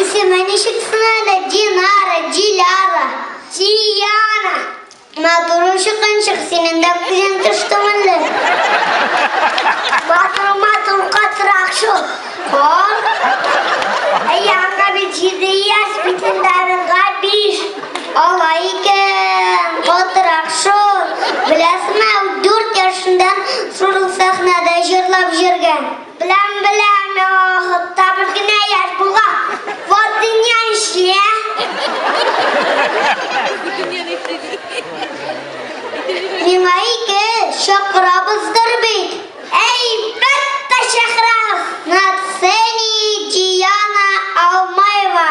Исеме ничек сынады? Динара, Диляра. Дияна. Матур ушыкынчык, синең дә күзең төште мөлле. Матур, матур, катырак шул. Кор. Әйе, аңа бит җиде яшь, битендә Алай икән, катырак шул. Беләсме, ул дүрт яшендә шул сәхнәдә җырлап җөргән. Беләм, беләм, яңа вакытта бер генә яшь булган. Вот дөнья ничек, ә? Миңа ике чакырабыздыр бит. Әйбәттә чакырабыз! На сцене Диана Алмаева,